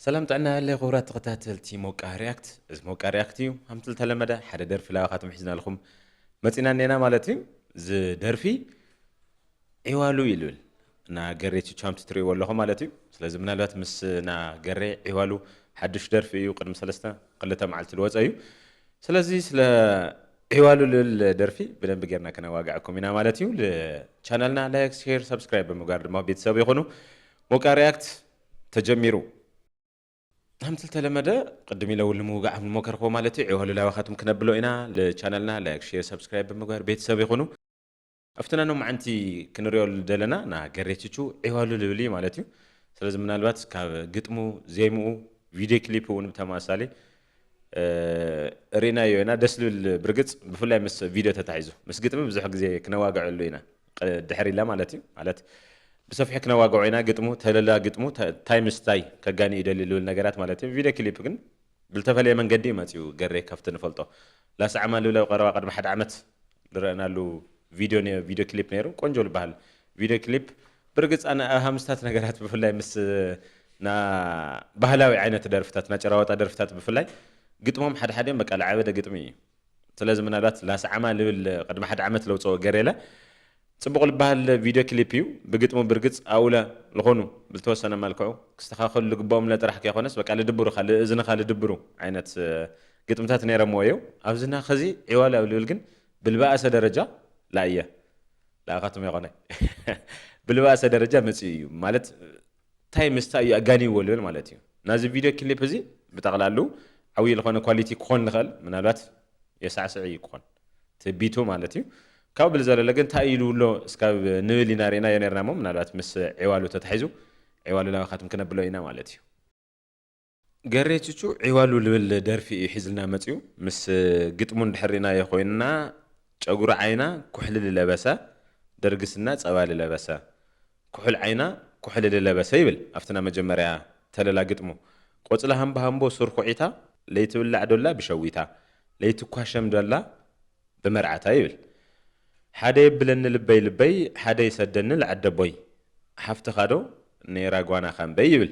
ሰላም ጥዕና ይሃሊ ኩቡራት ተከታተልቲ ሞቃ ሪኣክት እዚ ሞቃ ሪኣክት እዩ ሃምቲ ልተለመደ ሓደ ደርፊ ላባካትም ሒዝናልኩም መጺና እኔና ማለት እዩ እዚ ደርፊ ዒዋሉ ይልብል እና ገሬ ቹቹ ሃምቲ ትርእይዎ ኣለኹም ማለት እዩ ስለዚ ምናልባት ምስ እና ገሬ ዒዋሉ ሓዱሽ ደርፊ እዩ ቅድሚ ሰለስተ ክልተ መዓልቲ ዝወጸ እዩ ስለዚ ስለ ዒዋሉ ልብል ደርፊ ብደንቢ ጌርና ከነዋግዐኩም ኢና ማለት እዩ ቻናልና ላይክ ሼር ሰብስክራይብ ብምግባር ድማ ቤተሰብ ይኹኑ ሞቃ ሪኣክት ተጀሚሩ ከምቲ ዝተለመደ ቅድም ኢለ እውን ንምውጋዕ ምሞከርክዎ ማለት እዩ ዕዋሉ ላባኻትኩም ክነብሎ ኢና ልቻናልና ላይክ ሼር ሰብስክራይብ ብምግባር ቤተሰብ ይኹኑ ኣብቲ ናይ ሎማዓንቲ ክንሪኦ ደለና ና ገሬችቹ ዕዋሉ ልብል እዩ ማለት እዩ ስለዚ ምናልባት ካብ ግጥሙ ዜምኡ ቪድዮ ክሊፕ እውን ብተመሳሳሊ ሪእናዮ ኢና ደስ ልብል ብርግጽ ብፍላይ ምስ ቪድዮ ተታሒዙ ምስ ግጥሚ ብዙሕ ግዜ ክነዋግዐሉ ኢና ድሕር ኢልና ማለት እዩ ማለት ብሰፊሑ ክነዋግዖ ኢና ግጥሙ ተለላ ግጥሙ ታይ ምስ ታይ ከጋኒ እዩ ደልዩ ልብል ነገራት ማለት እዩ ቪድዮ ክሊፕ ግን ብልተፈለየ መንገዲ እዩ መጺኡ ገሬ ከፍቲ ንፈልጦ ላስዓ ማልብለብ ቀረባ ቅድሚ ሓደ ዓመት ልረእናሉ ቪድዮ ቪድዮ ክሊፕ ነይሩ ቆንጆ ልበሃል ቪድዮ ክሊፕ ብርግጽ ኣነ ኣብ ሃምስታት ነገራት ብፍላይ ምስ ና ባህላዊ ዓይነት ደርፍታት ና ጭራዋጣ ደርፍታት ብፍላይ ግጥሞም ሓደ ሓዲኦም በቃ ልዓበደ ግጥሚ እዩ ስለዚ ምናልባት ላስዓማ ልብል ቅድሚ ሓደ ዓመት ለውጽኦ ገሬለ ጽቡቕ ልበሃል ቪድዮ ክሊፕ እዩ ብግጥሙ ብርግጽ ኣውለ ልኾኑ ብልተወሰነ መልክዑ ክስተኻኸሉ ልግበኦም ለጥራሕ ከይኾነስ በቃ ልድብሩኻ ልእዝንኻ ልድብሩ ዓይነት ግጥምታት ነይረምዎ እየው ኣብዚ ናኸዚ ዒዋላው ልብል ግን ብልበኣሰ ደረጃ ላእየ ልኣኻትም ኣይኮነ ብልባሰ ደረጃ መጺኡ እዩ ማለት ታይ ምስታይ እዩ ኣጋኒዎ ልብል ማለት እዩ ናዚ ቪድዮ ክሊፕ እዚ ብጠቕላሉ ዓብዪ ልኾነ ኳሊቲ ክኾን ልኽእል ምናልባት የሳዕስዕ እዩ ክኾን ትቢቱ ማለት እዩ ካብ ብል ዘለለ ግን ታይ ኢሉ ኣሎ እስካብ ንብል ኢና ርኢናዮ ነርና እሞ ምናልባት ምስ ዒዋሉ ተታሒዙ ዒዋሉ ላባኻትም ክነብሎ ኢና ማለት እዩ ገሬ ቹቹ ዒዋሉ ልብል ደርፊ እዩ ሒዝልና መጺኡ ምስ ግጥሙ እንድሕር ሪእናዮ ኮይንና ጨጉሪ ዓይና ኩሕሊ ልለበሰ ደርጊ ስና ጸባ ልለበሰ ኩሑል ዓይና ኩሕሊ ልለበሰ ይብል ኣብቲ ናይ መጀመርያ ተለላ ግጥሙ ቆጽሊ ሃምቦሃምቦ ሱር ኩዒታ ለይትብላዕ ዶላ ብሸዊታ ለይትኳሸም ዶላ ብመርዓታ ይብል ሓደ የብለኒ ልበይ ልበይ ሓደ ይሰደኒ ልዓደቦይ ሓፍትኻ ዶ ነይራ ጓና ካምበይ ይብል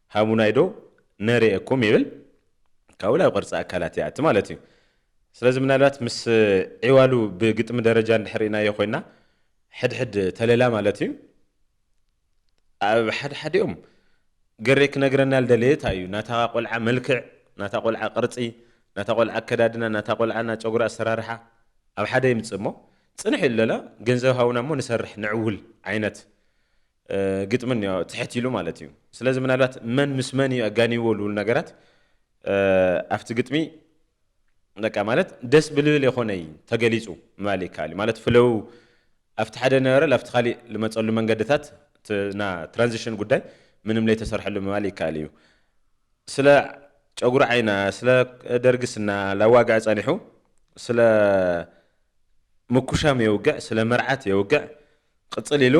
ሃቡናይ ዶ ነርኤኩም ይብል ካብኡ ናብ ቅርጺ ኣካላት ይኣቲ ማለት እዩ። ስለዚ ምናልባት ምስ ዒዋሉ ብግጥሚ ደረጃ እንድሕር ሪኢናዮ ኮይና ሕድሕድ ተለላ ማለት እዩ ኣብ ሓድሓዲኦም ገሬ ክነግረና ልደለየ ታይ እዩ ናታ ቆልዓ መልክዕ ናታ ቆልዓ ቅርጺ ናታ ቆልዓ ኣከዳድና ናታ ቆልዓ ናይ ጨጉሪ ኣሰራርሓ ኣብ ሓደ ይምጽእ እሞ ጽንሕ ኢሉ ለላ ገንዘብ ሃቡና እሞ ንሰርሕ ንዕውል ዓይነት ግጥሚ እኒኦ ትሕት ኢሉ ማለት እዩ። ስለዚ ምናልባት መን ምስ መን እዩ ኣጋኒዎ ልብል ነገራት ኣብቲ ግጥሚ በቃ ማለት ደስ ብልብል የኾነይ ተገሊፁ ምባል ይከኣል እዩ። ማለት ፍለው ኣብቲ ሓደ ነበረ ላብቲ ካሊእ ልመፀሉ መንገድታት ና ትራንዚሽን ጉዳይ ምንም ለይተሰርሐሉ ምባል ይከኣል እዩ። ስለ ጨጉሪ ዓይና ስለ ደርጊ ስና ላዋግዐ ፀኒሑ ስለ ምኩሻም የውግዕ ስለ መርዓት የውግዕ ቅጽል ኢሉ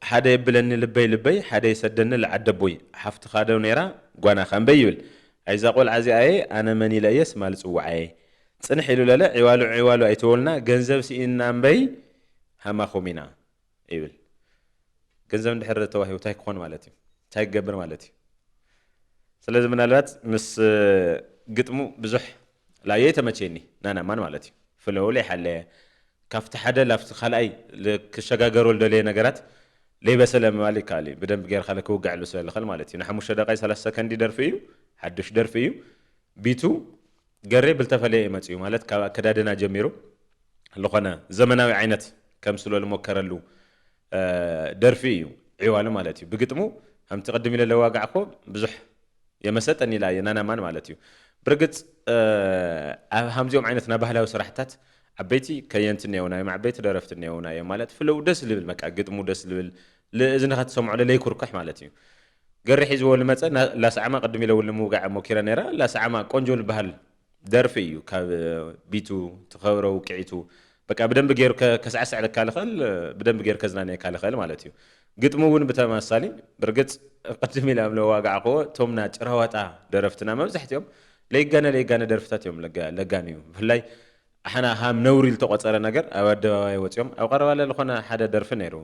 ሓደ የብለኒ ልበይ ልበይ ሓደ ይሰደኒ ልዓደቦይ ሓፍትኻ ዶ ነይራ ጓናኻ እምበይ ይብል ኣይዛ ቆልዓ እዚኣየ ኣነ መን ኢለ እየ ስማ ልጽውዓየ ጽንሕ ኢሉ ለለ ዒዋሉ ዒዋሉ ኣይትበሉና ገንዘብ ሲኢንና እምበይ ሃማኹም ኢና ይብል ገንዘብ እንድሕር ተዋሂቡ እንታይ ክኾን ማለት እዩ እንታይ ክገብር ማለት እዩ ስለዚ ምናልባት ምስ ግጥሙ ብዙሕ ላየይ ተመችየኒ ናና ማን ማለት እዩ ፍለው ለይሓለየ ካብቲ ሓደ ላብቲ ካልኣይ ክሸጋገሮ ልደለየ ነገራት ለይበሰለ ምባል ይከኣል እዩ ብደንብ ገይርካ ለክውገዐሉ ስለ ልኸል ማለት እዩ ንሓሙሽተ ደቂቃ ሰላሳ ሰከንዲ ደርፊ እዩ ሓዱሽ ደርፊ እዩ ቢቱ ገሬ ብልተፈለየ እዩ መፅኡ ማለት ካብ ኣከዳድና ጀሚሩ ልኾነ ዘመናዊ ዓይነት ከምስሎ ልሞከረሉ ደርፊ እዩ ዒዋለ ማለት እዩ ብግጥሙ ከምቲ ቅድም ኢለ ለዋጋዕኮ ብዙሕ የመሰጠን ኢላ እየ ናናማን ማለት እዩ ብርግፅ ኣብ ሃምዚኦም ዓይነት ናይ ባህላዊ ስራሕታት ዓበይቲ ከየንቲ እኒአውና እዮም ዓበይቲ ደረፍቲ እኒአውና እዮም ማለት ፍለው ደስ ልብል በቃ ግጥሙ ደስ ልብል ልእዝንኻ ትሰምዖ ለለይኩርኩሕ ማለት እዩ ገሪ ሒዝዎ ልመፀ ላስዓማ ቅድም ኢለ እውን ልምውጋዕ ሞኪረ ነይራ ላስዓማ ቆንጆ ልበሃል ደርፊ እዩ ካብ ቢቱ ትኸብረ ውቅዒቱ በቃ ብደንብ ገይሩ ከስዕስዕልካ ልኽእል ብደንብ ገይሩ ከዝናንየካ ልኽእል ማለት እዩ ግጥሚ እውን ብተመሳሳሊ ብርግፅ ቅድም ኢለ ለዋጋዕክዎ እቶም ና ጭራዋጣ ደረፍትና መብዛሕትኦም ለይጋነ ለይጋነ ደርፍታት እዮም ለጋንዩ ብፍላይ ኣሕና ሃም ነውሪ ልተቆፀረ ነገር ኣብ ኣደባባይ ወፂኦም ኣብ ቀረባለ ልኾነ ሓደ ደርፊ ነይሩ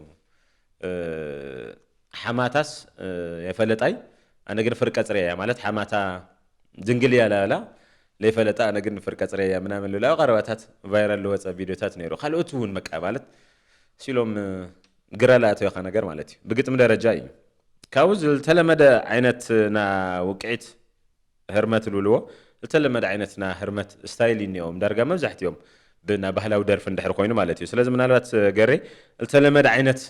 ሓማታስ የፈለጣይ ኣነ ግን ፍርቀ ጽርየያ ማለት ሓማታ ድንግል እያ ላላ ለይፈለጣ ኣነ ግን ፍርቀ ጽርየያ ምናምን ልብላ ቀረባታት ቫይራል ልወጸ ቪድዮታት ነይሩ ካልኦት እውን በቃ ማለት ሲሎም ግራ ላኣተወካ ነገር ማለት እዩ ብግጥሚ ደረጃ እዩ ካብኡ ዝተለመደ ዓይነት ና ውቅዒት ህርመት እልውልዎ እተለመደ ዓይነት ና ህርመት እስታይል እኒኦም ዳርጋ መብዛሕቲኦም ብ ና ባህላዊ ደርፊ እንድሕር ኮይኑ ማለት እዩ ስለዚ ምናልባት ገሬ እልተለመደ ዓይነት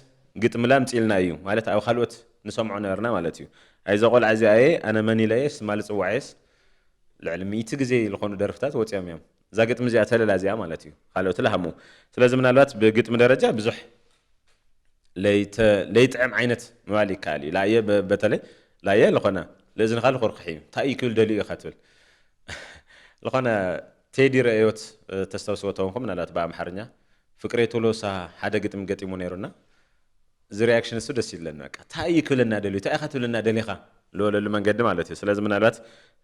ግጥምለ ኣምፅእልና እዩ ማለት ኣብ ኻልኦት ንሰምዖ ነበርና ማለት እዩ ኣይ እዛ ቆልዓ እዚኣ እየ ኣነ መን ኢለየ ስማ ልፅዋዕየስ ልዕሊ ሚእቲ ግዜ ልኾኑ ደርፍታት ወፂኦም እዮም እዛ ግጥሚ እዚኣ ተለላ እዚኣ ማለት እዩ ኻልኦትለ ሃምኡ ስለዚ ምናልባት ብግጥሚ ደረጃ ብዙሕ ለይጥዕም ዓይነት ምባል ይከኣል እዩ። ላየ በተለይ ላየ ልኾነ ልእዝንኻ ልኹርኩሕ እዩ። እንታይ እዩ ክብል ደልዩ እዩ ከትብል ልኾነ ቴዲ ርእዮት ተስተውስዎ ተኾንኩም ምናልባት ብኣምሓርኛ ፍቅሬ ቶሎሳ ሓደ ግጥሚ ገጢሙ ነይሩ እና እዚ ሪያክሽን ንሱ ደስ ይብለኒ በቃ እንታይ እዩ ክብለና ደልዩ እንታይ ኢኻ ትብለና ደሊኻ ዝበለሉ መንገዲ ማለት እዩ ስለዚ ምናልባት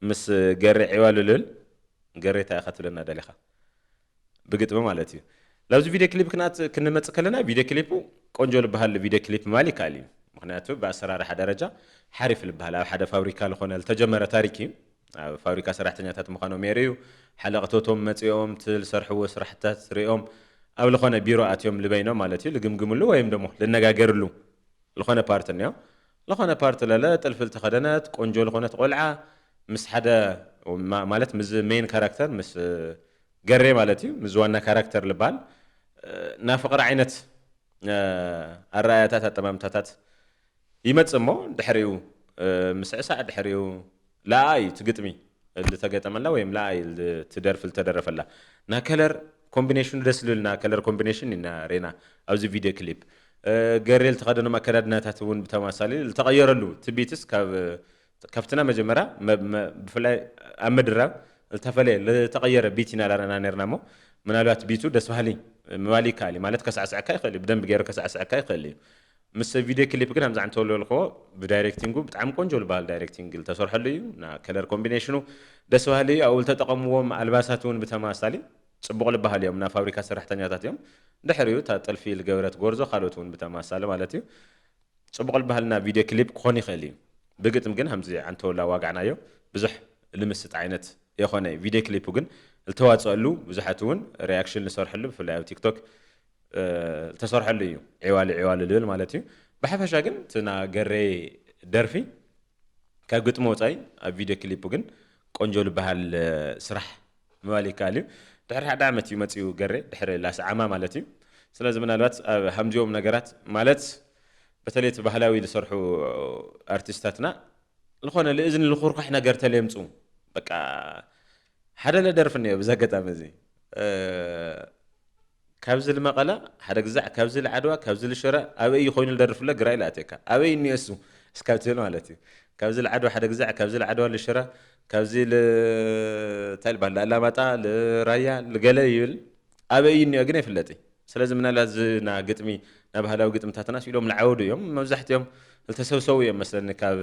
ምስ ገሬ ዒዋ ልልብል ገሬ እንታይ ኢኻ ትብለና ደሊኻ ብግጥሚ ማለት እዩ ናብዚ ቪድዮ ክሊፕ ክናት ክንመጽእ ከለና ቪድዮ ክሊፑ ቆንጆ ልበሃል ቪድዮ ክሊፕ ምባል ይከኣል እዩ ምኽንያቱ ብኣሰራርሓ ደረጃ ሓሪፍ ልበሃል ኣብ ሓደ ፋብሪካ ልኾነ ልተጀመረ ታሪክ እዩ ኣብ ፋብሪካ ሰራሕተኛታት ምዃኖም የርእዩ ሓለቕቶቶም መጺኦም እቲ ልሰርሕዎ ስራሕትታት ርእዮም ኣብ ልኾነ ቢሮ ኣትዮም ልበይኖም ማለት እዩ ልግምግምሉ ወይም ደሞ ልነጋገርሉ ልኾነ ፓርት እንዮ ልኾነ ፓርት ለለ ጥልፊ ልተኸደነት ቆንጆ ልኾነት ቆልዓ ምስ ሓደ ማለት ምዝ ሜን ካራክተር ምስ ገሬ ማለት እዩ ምዝ ዋና ካራክተር ልባል እና ፍቕሪ ዓይነት ኣረኣያታት ኣጠማምታታት ይመጽእ እሞ ድሕሪኡ ምስዕሳዕ ድሕሪኡ ለኣ እዩ እቲ ግጥሚ ልተገጠመላ ወይም ለኣ እዩ እቲ ደርፊ ልተደረፈላ ናይ ከለር ኮምቢኔሽኑ ደስ ልብል ናይ ከለር ኮምቢኔሽን ኢና ሬና ኣብዚ ቪድዮ ክሊፕ ገሬ ልተኸደኖም ኣከዳድናታት እውን ብተመሳሳሊ ልተቐየረሉ እቲ ቢትስ ካብ ካብቲ ናይ መጀመርያ ብፍላይ ኣብ ምድራብ ልተፈለየ ልተቐየረ ቢት ኢና ላረና ነርና እሞ ምናልባት ቢቱ ደስ በሃሊ ምባል ይከኣል እዩ ማለት ከሳዕስዐካ ይኽእል እዩ ብደንቢ ገይሩ ከሳዕስዐካ ይኽእል እዩ ምስ ቪድዮ ክሊፕ ግን ኣምዛ ዕንተ ወልወል እኮ ብዳይሬክቲንጉ ብጣዕሚ ቆንጆ ልበሃል ዳይሬክቲንግ ልተሰርሐሉ እዩ እና ከለር ኮምቢኔሽኑ ደስ በሃሊ እዩ ኣብኡ ልተጠቀምዎም ኣልባሳት እውን ብተመሳሳሊ ፅቡቅ ልበሃል እዮም እና ፋብሪካ ሰራሕተኛታት እዮም ድሕሪኡ እታ ጥልፊ ልገበረት ጎርዞ ካልኦት እውን ብተመሳሳሊ ማለት እዩ ፅቡቅ ልበሃል እና ቪድዮ ክሊፕ ክኾን ይኽእል እዩ ብግጥም ግን ሃምዚ ዕንተ ወላ ዋጋዕናዮ ብዙሕ ልምስጥ ዓይነት የኾነይ ቪድዮ ክሊፑ ግን ልተዋፀኣሉ ብዙሓት እውን ሪኣክሽን ልሰርሕሉ ብፍላይ ኣብ ቲክቶክ ዝተሰርሐሉ እዩ ዒዋሊ ዒዋሊ ልብል ማለት እዩ ብሓፈሻ ግን እቲ ና ገሬ ደርፊ ካብ ግጥሚ ወፃኢ ኣብ ቪድዮ ክሊፑ ግን ቆንጆ ልበሃል ስራሕ ምባል ይከኣል እዩ ድሕሪ ሓደ ዓመት እዩ መፂኡ ገሬ ድሕሪ ላስዓማ ማለት እዩ ስለዚ ምናልባት ኣብ ሃምዚኦም ነገራት ማለት በተለይ እቲ ባህላዊ ዝሰርሑ ኣርቲስታትና ዝኾነ ልእዝኒ ልኹርኳሕ ነገር ተሌምፁ በቃ ሓደለ ደርፊ እኒኦ ብዚ ኣጋጣሚ እዚ ካብዚ ልመቐለ ሓደ ግዛዕ ካብዚ ልዓድዋ ካብዚ ልሽረ ኣበይ እዩ ኮይኑ ልደርፍ ለ ግራይ ልኣትየካ ኣበይ እኒኦ እሱ እስካብ ትብል ማለት እዩ ካብዚ ልዓድዋ ሓደ ግዛዕ ካብዚ ልዓድዋ ልሽረ ካብዚ ልታይ ልባሃል ልኣላማጣ ልራያ ልገለ ይብል ኣበይ እዩ እኒኦ ግን ኣይፍለጥ ስለዚ ምናልባት እዚ ና ግጥሚ ና ባህላዊ ግጥምታትና ስኢሎም ልዓወዱ እዮም መብዛሕትኦም ዝተሰብሰቡ እዮም መስለኒ ካብ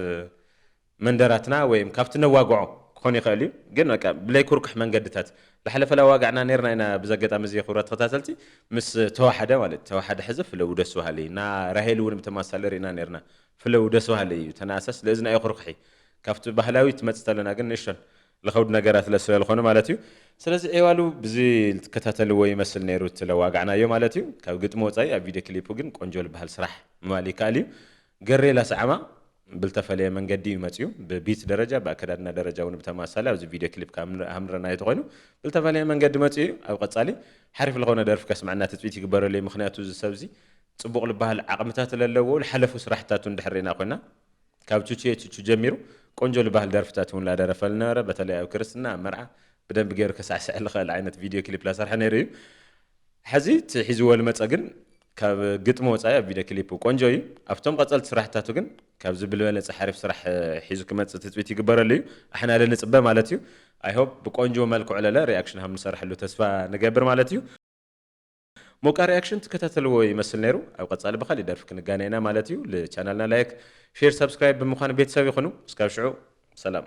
መንደራትና ወይም ካብቲ ነዋግዖ ክኾን ይኸእል እዩ ግን በቃ ብለይ ኩርኩሕ መንገድታት ብሓለፈላ ዋጋዕና ነርና ኢና ብዚ ኣገጣሚ እዚ ክብራት ተኸታተልቲ ምስ ተዋሓደ ማለት ተዋሓደ ሕዚ ፍለው ደስ በሃሊ እዩ እና ራሄል እውን ብተመሳሳሊ ሪእና ነርና ፍለው ደስ በሃሊ እዩ ተናእሰስ ለእዝኒ ኣይኹርኩሒ ካብቲ ባህላዊ ትመጽ ተለና ግን ንእሽቶን ልኸብድ ነገራት ለስለ ልኾኑ ማለት እዩ ስለዚ ዒዋሉ ብዚ ልትከታተልዎ ይመስል ነይሩ እቲ ለዋጋዕናዮ ማለት እዩ ካብ ግጥሚ ወጻኢ ኣብ ቪድዮ ክሊፑ ግን ቆንጆ ልበሃል ስራሕ ምባል ይከኣል እዩ ገሬ ላስዓማ ብልተፈለየ መንገዲ እዩ መጺኡ ብቢት ደረጃ ብኣከዳድና ደረጃ ውን ብተማሳሊ ኣብዚ ቪድዮ ክሊፕ ካምንረኣዮ ተኮይኑ ብልተፈለየ መንገዲ መጺኡ እዩ ኣብ ቀጻሊ ሓሪፍ ልኮነ ደርፊ ከስመዐና ትጽቢት ይግበረሉ እዩ ምክንያቱ እዚ ሰብ እዚ ጽቡቅ ልበሃል ዓቅምታት ለለዎ ልሓለፉ ስራሕትታቱ እንድሕር ሪእና ኮይና ካብ ቹቹየ ቹቹ ጀሚሩ ቆንጆ ልበሃል ደርፍታት ውን ላደረፈ ልነበረ በተለይ ኣብ ክርስትና ኣብ መርዓ ብደንቢ ገይሩ ከሳዕስዕ ልክእል ዓይነት ቪድዮ ክሊፕ ላሰርሐ ነይሩ እዩ ሐዚ እቲ ሒዝዎ ልመፀ ግን ካብ ግጥሚ ወፃኢ ኣብ ቪድዮ ክሊፑ ቆንጆ እዩ ኣብቶም ቐፀልቲ ስራሕታቱ ግን ካብዚ ብልበለፀ ሓሪፍ ስራሕ ሒዙ ክመፅእ ትፅቢት ይግበረሉ እዩ ኣሕና ለ ንፅበ ማለት እዩ ኣይ ሆብ ብቆንጆ መልክዑ ለለ ሪኣክሽን ሃም ንሰርሐሉ ተስፋ ንገብር ማለት እዩ ሞቃ ሪኣክሽን ትከታተልዎ ይመስል ነይሩ ኣብ ቐፃሊ ብካሊእ ደርፊ ክንጋነ ኢና ማለት እዩ ልቻናልና ላይክ ሼር ሳብስክራይብ ብምኳን ቤተሰብ ይኩኑ እስካብ ሽዑ ሰላም።